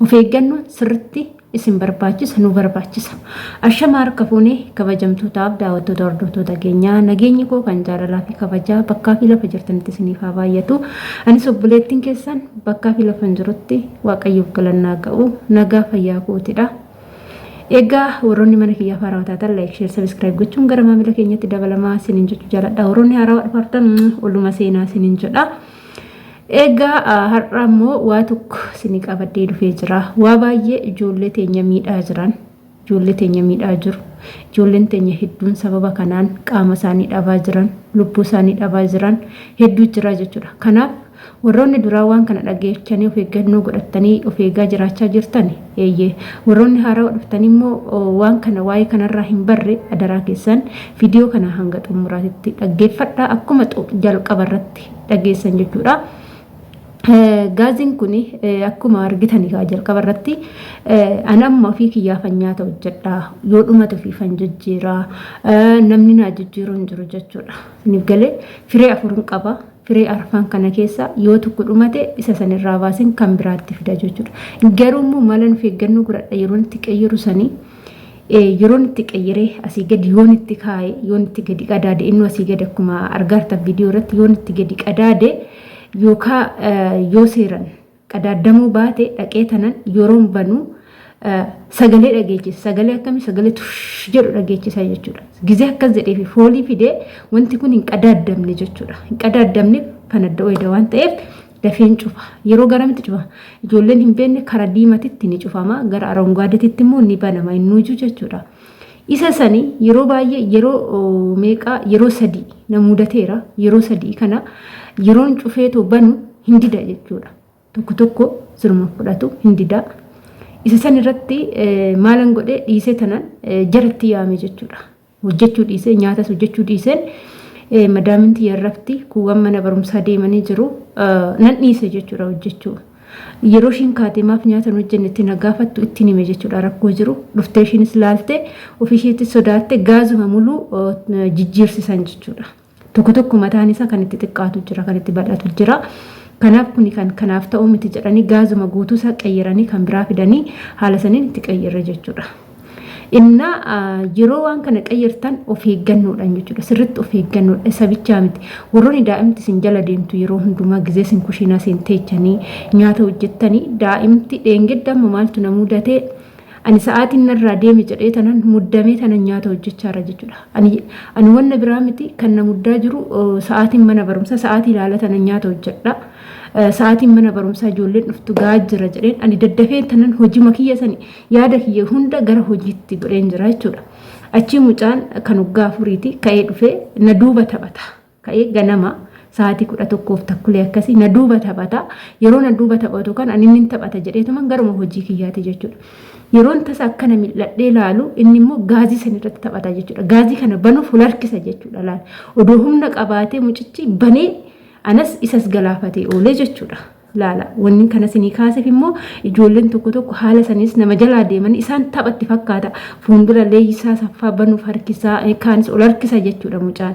Of eeggannoon sirritti isin barbaachisa nu barbaachisa. Ashama harka fuune kabajamtootaaf daawwattoota hordoftoota keenyaa nageenyi koo kan jaalalaa fi kabajaa bakkaa fi lafa jirtanitti isiniif haa baay'atu. Anis obboleettiin keessan bakkaa fi lafa hin jirutti waaqayyoof galannaa ga'u nagaa fayyaa kootidha. Egaa warroonni mana kiyyaa faaraa taatan laayik sheer sabiskiraayib gochuun gara maamila keenyatti dabalamaa isiniin jechuu jaaladha. Warroonni haaraa dhufartan oluma seenaa isiniin jedha. Egaa har'a immoo waa tokko isinii qabadhee dhufee jira. Waa baay'ee ijoollee teenya miidhaa jiran, ijoollee teenya miidhaa jiru. Ijoolleen teenya hedduun sababa kanaan qaama isaanii dhabaa jiran, lubbuu isaanii dhabaa jiran hedduu jira jechuudha. Kanaaf warroonni duraa waan kana dhageechanii of eeggannoo godhattanii of eegaa jiraachaa jirtan eeyyee. Warroonni haarawa dhuftan immoo waan kana waa'ee kanarraa hin barre adaraa keessan viidiyoo kana hanga xumuraatitti dhaggeeffadhaa akkuma jalqaba irratti dhageessan jechuudha. Gaaziin kun akkuma argitan egaa jalqaba irratti an amma ofii kiyyaafan nyaata hojjedha yoo dhumate ofiifan jijjiira namni naa jijjiiru hin jiru jechuudha. Isiniif galee firee afurin qaba. Firee arfan kana keessa yoo tokko dhumate isa san irraa baasin kan biraatti fida jechuudha. Garuu immoo malan of eeggannoo godhadha yeroo itti qayyaru sanii yeroon itti qayyaree asii gadi yoon itti kaa'e yoon itti gadi qadaade inni asii gadi akkuma argaartan viidiyoo irratti yoon itti gadi qadaade yookaa yoo seeran qadaadamuu baate dhaqee tanan yeroon banuu sagalee dhageechisa sagalee akkamii sagalee tush jedhu dhageechisa jechuudha gizee akkas jedheefi foolii fidee wanti kun hin qadaadamne jechuudha hin qadaadamne kan adda wayda waan ta'eef Dafeen cufa. Yeroo garamitti cufa? Ijoolleen hin beekne kara diimatitti ni cufama, gara arongaadetitti immoo ni banama innuuju jechuudha. Isa sani yeroo baay'ee yeroo oo, meeqaa yeroo sadii na mudateera. Yeroo sadii kana yeroon cufee too banu hin dida jechuudha. Tokko tokko siruma fudhatu hin dida. Isa san irratti eh, maalan godhe dhiisee tanan eh, jaratti yaame jechuudha. hojjechuu dhiisee nyaatas hojjechuu dhiiseen madaamin tiyya irratti kuuwwan mana barumsaa deemanii jiru nan dhiise jechuudha hojjechuu. Yeroo ishiin kaatee maaf nyaata hin hojjenne itti na gaafattu ittiin hime jechuudha rakkoo jiru. Dhuftee ishiinis laalte ofii isheetti sodaatte gaazuma muluu jijjiirsisan jechuudha. Tokko tokko mataan isaa kan itti xiqqaatu jira, kan itti bal'atu jira. Kanaaf kuni kan kanaaf ta'uu miti jedhanii gaazuma guutuu isaa qayyaranii kan biraa fidanii haala saniin itti qayyarre jechuudha. Innaa yeroo waan kana qayyartan of eeggannoodhaan jechuudha. Sirriitti of eeggannoodha. Isa bichaa miti. Warroonni daa'imti isin jala deemtu yeroo hundumaa gizee isin kushiinaa isin teechanii nyaata hojjettanii daa'imti dheengedda amma maaltu na mudatee Ani sa'aatiin narraa deeme jedhee tanan muddamee tanan nyaata hojjechaarra jechuudha. Ani ani wanna biraa miti kan na muddaa jiru eh, sa'aatiin mana barumsaa sa'aatii ilaala tanan nyaata hojjedha. Eh, Sa'aatiin mana barumsaa ijoolleen dhuftu ga'aa jira jedheen ani daddafee tanan hojima kiyya sani yaada kiyya hunda gara hojiitti godheen jira jechuudha. Achii mucaan kan waggaa afuriiti ka'ee dhufee na duuba taphata. ka'ee ganama sa'aatii 11f takkulee akkasii na duuba taphata. Yeroo na duuba taphatu kan ani inni hin taphata jedheetuman garuma hojii kiyyaati jechuudha. Yeroon tasa akkana mil'adhee laalu inni immoo gaazii san irratti taphata jechuudha. Gaazii kana banuuf wal harkisa jechuudha laal. Odoo humna qabaatee mucichi banee anas isas galaafatee oolee jechuudha. laala. Wannin kana isinii kaasef immoo ijoolleen tokko tokko haala saniis nama jalaa deeman isaan tapha itti fakkaata. Fuundura Leeyyisaa Saffaa banuuf harkisaa kaanis ol harkisa jechuudha mucaan.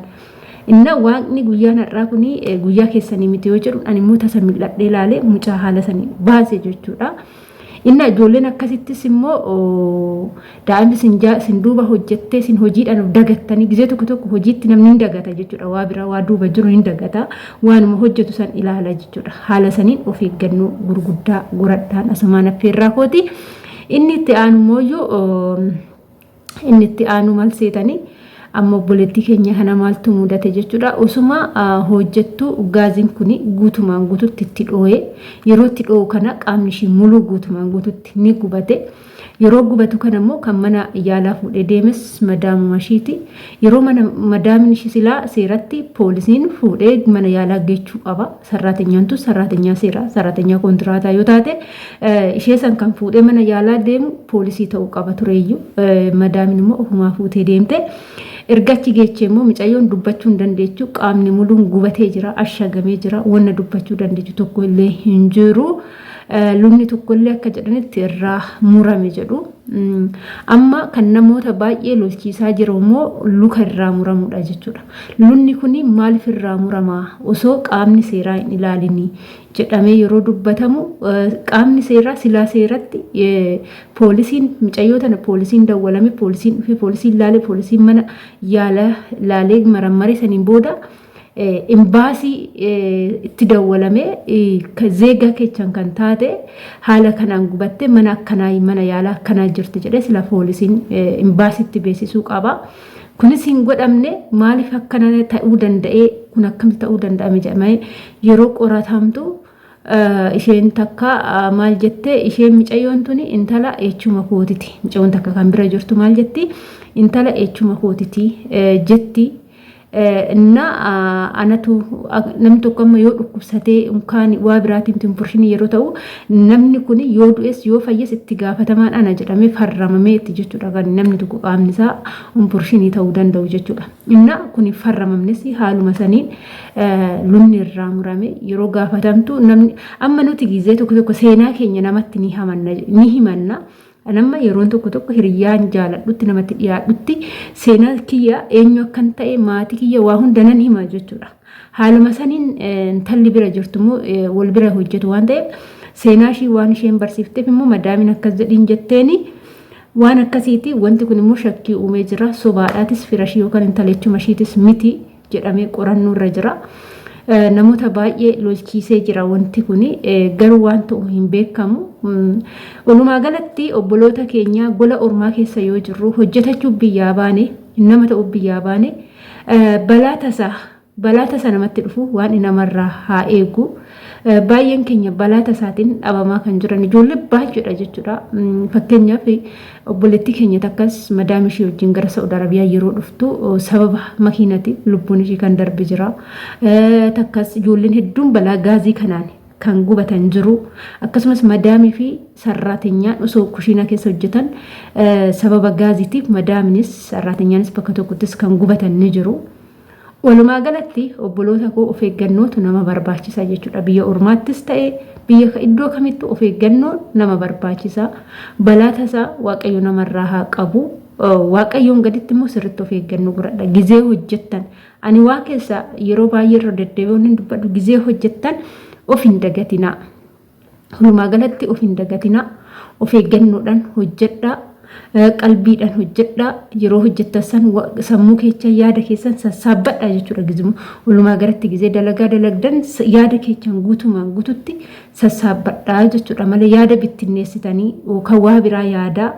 Inna waaqni guyyaan har'aa kun guyyaa keessanii miti yoo jedhu ani immoo tasa mil'adhee laale mucaa haala sanii baase jechuudha. Inna ijoolleen akkasittis immoo daa'imni sin jaa sin duuba hojjettee sin hojiidhaan dagattanii gizee tokko tokko hojiitti namni hin dagata jechuudha waa biraa waa duuba jiru hin dagata waanuma hojjetu san ilaala jechuudha haala saniin of eeggannoo gurguddaa goradhaan asumaan affeerraa kooti inni itti aanu immoo Inni itti aanu mal seetanii amma obboleettii keenya kana maaltu mudate jechuudha. Osuma hojjettuu gaaziin kun guutumaan guututti itti dhooyee yeroo itti dhoo'u kana qaamni ishii muluu guutumaan guututti ni gubate. Yeroo gubatu kana immoo kan mana yaalaa fuudhee deemes madaamuma ishiiti. Yeroo mana madaamin ishii silaa seeratti poolisiin fuudhee mana yaalaa geechuu qaba. Sarraatenyaantu sarraatenyaa seeraa sarraatenyaa koontiraataa yoo taate Ishee san kan fuudhee mana yaalaa deemu poolisii ta'uu qaba tureeyyu. Madaamin immoo ofumaa fuutee deemte. Erga achi geechee immoo micayyoon dubbachuu hin dandeechu. Qaamni muluun gubatee jira, ashagamee jira. Wanna dubbachuu dandeechu tokko illee hin jiru. Lubni tokko illee akka jedhanitti irraa murame jedhu. Amma kan namoota baay'ee lolchiisaa jiru immoo luka irraa muramudha jechuudha. Lubni kun maaliif irraa muramaa osoo qaamni seeraa hin ilaalinii? jedhamee yeroo dubbatamu qaamni seeraa silaa seeratti poolisiin micayyoo tana poolisiin dawwalame poolisiin dhufee poolisiin laalee poolisiin mana yaala laalee marammaree saniin booda imbaasii itti dawwalame zeegaa kechan kan taate haala kanaan gubatte mana akkanaa mana yaala akkanaa jirti jedhee sila poolisiin imbaasiitti beeksisuu qaba. Kunis hin godhamne maaliif akkana ta'uu danda'ee kun akkamitti ta'uu danda'ame jedhamee yeroo qoratamtu isheen takka maal jette isheen micayyoon tuni intala eechuma kootiti micayyoon takka kan bira jirtu maal jetti intala eechuma kootiti jetti na anatu namni tokko amma yoo dhukkubsatee unkaan waa biraatiin tinfurshinii yeroo ta'u Namni kun yoo du'es yoo fayyes itti gaafatamaan ana jedhamee farramamee itti jechuudha kan namni tokko qaamni isaa umpurshinii ta'uu danda'u jechuudha. Inna kun hin farramamnes haaluma saniin lunni irraa murame yeroo gaafatamtu namni amma nuti gizee tokko tokko seenaa keenya namatti ni himanna An amma yeroon tokko tokko hiriyyaan jaaladhutti namatti dhiyaadhutti seenaa kiyya eenyu akkan ta'e maatii kiyya waa hunda nan hima jechuudha. Haaluma saniin intalli bira jirtu immoo wal bira hojjetu waan ta'eef seenaa ishii waan isheen barsiifteef immoo madaamiin akkas jedhiin jetteeni waan akkasiiti wanti kun immoo shakkii uumee jira sobaadhaatis firashii yookaan intala jechuma ishiitis miti. jedhamee qorannoo irra jira. Namoota baay'ee lolchiisee jira wanti kun garuu waan ta'u hin beekamu. Walumaa galatti obboloota keenya gola ormaa keessa yoo jirru hojjetachuuf biyyaa baane nama ta'uuf biyyaa baane balaa tasaa balaa tasa namatti dhufu waan namarraa haa eegu. Baay'een keenya balaa tasaatiin dhabamaa kan jiran ijoollee baay'eedha jechuudha. Fakkeenyaaf Obboleettii keenya takkas madaam ishii wajjin gara Sa'ud Arabiyaa yeroo dhuftu sababa makiinati lubbuun ishii kan darbe jira. Takkas ijoolleen hedduun balaa gaazii kanaan kan gubatan jiru. Akkasumas madaamii fi sarraatenyaan osoo kushiinaa keessa hojjetan sababa gaaziitiif madaaminis sarraatenyaanis bakka tokkottis kan gubatan ni jiru. Walumaa galatti obboloota koo of eeggannootu nama barbaachisa jechuudha. Biyya ormaattis ta'e biyya iddoo kamittuu of eeggannoo nama barbaachisa. Balaa tasaa Waaqayyo namarraa haa qabu. Waaqayyoon gaditti immoo sirriitti of eeggannoo godhadha. Gizee hojjettan ani waa keessa yeroo baay'ee irra deddeebi'uun hin dubbadhu gizee hojjettan of hin dagatinaa. Walumaa galatti of hin dagatinaa, of eeggannoodhaan hojjedhaa, qalbiidhaan hojjedhaa, yeroo hojjettan san sammuu keechan yaada keessan sassaabbadhaa jechuudha gizuma. Walumaa galatti gizee dalagaa dalagdan yaada keechan guutumaan guututti sassaabbadhaa jechuudha malee yaada bittinneessitanii yookaan waa biraa yaadaa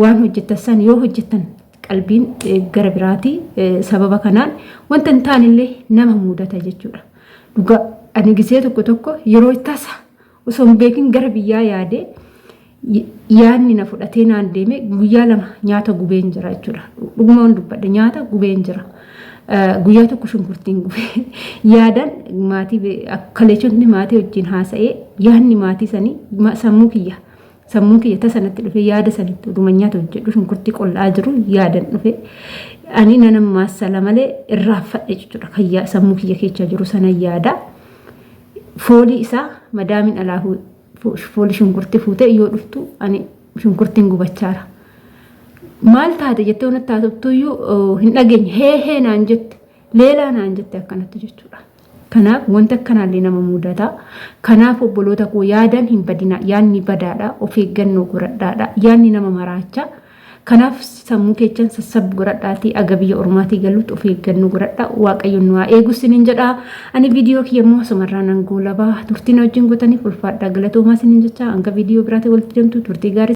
waan hojjettan san yoo hojjettan qalbiin gara biraatii sababa kanaan wanta hin taanillee nama muudata jechuudha. Dhugaa ani gisee tokko tokko yeroo tasa osoo hin beekin gara biyyaa yaadee y- yaadni na fudhatee naan deeme guyyaa lama nyaata gubeen jira jechuudha. Dhuguma waan dubbadhe nyaata gubeen jira. Eh, Guyyaa tokko shunkurtiin gube. Yaadan maatii be- ak- kaleechotni maatii wajjin haasa'ee yaadni maatii sanii ma- sammuu kiyya Sammuun kiyya tasa natti dhufe yaada sanitti oduma nyaata hojjedhu shunkurtii qollaa jiru yaadan dhufe. Ani nanan maassala malee irraa fadhe jechuudha. Kan sammuu kiyya keessa jiru sana yaada. Foolii isaa madaamin alaa foolii shunkurtii fuutee yoo dhuftu ani shunkurtiin gubachaara. Maal taate jettee wanatti taatuttuyyuu hin dhageenye hee hee naan jette. Leelaa naan jette akkanatti jechuudha. Kanaaf wanta akkanaallee nama mudata. Kanaaf obboloota koo yaadaan hin badina. Yaadni badaadha. Of eeggannoo godhadhaadha. Yaadni nama maraacha. Kanaaf sammuu keechan sassabbu godhadhaatii aga biyya ormaatii galuutti of eeggannoo godhadha. Waaqayyoon nu haa eegu sinin jedha. Ani viidiyoo kiyya immoo asumarraa nan goolaba. Turtiin wajjin gootaniif ulfaadha. Galatoomaa sinin jecha hanga viidiyoo biraatiin walitti deemtu turtii gaarii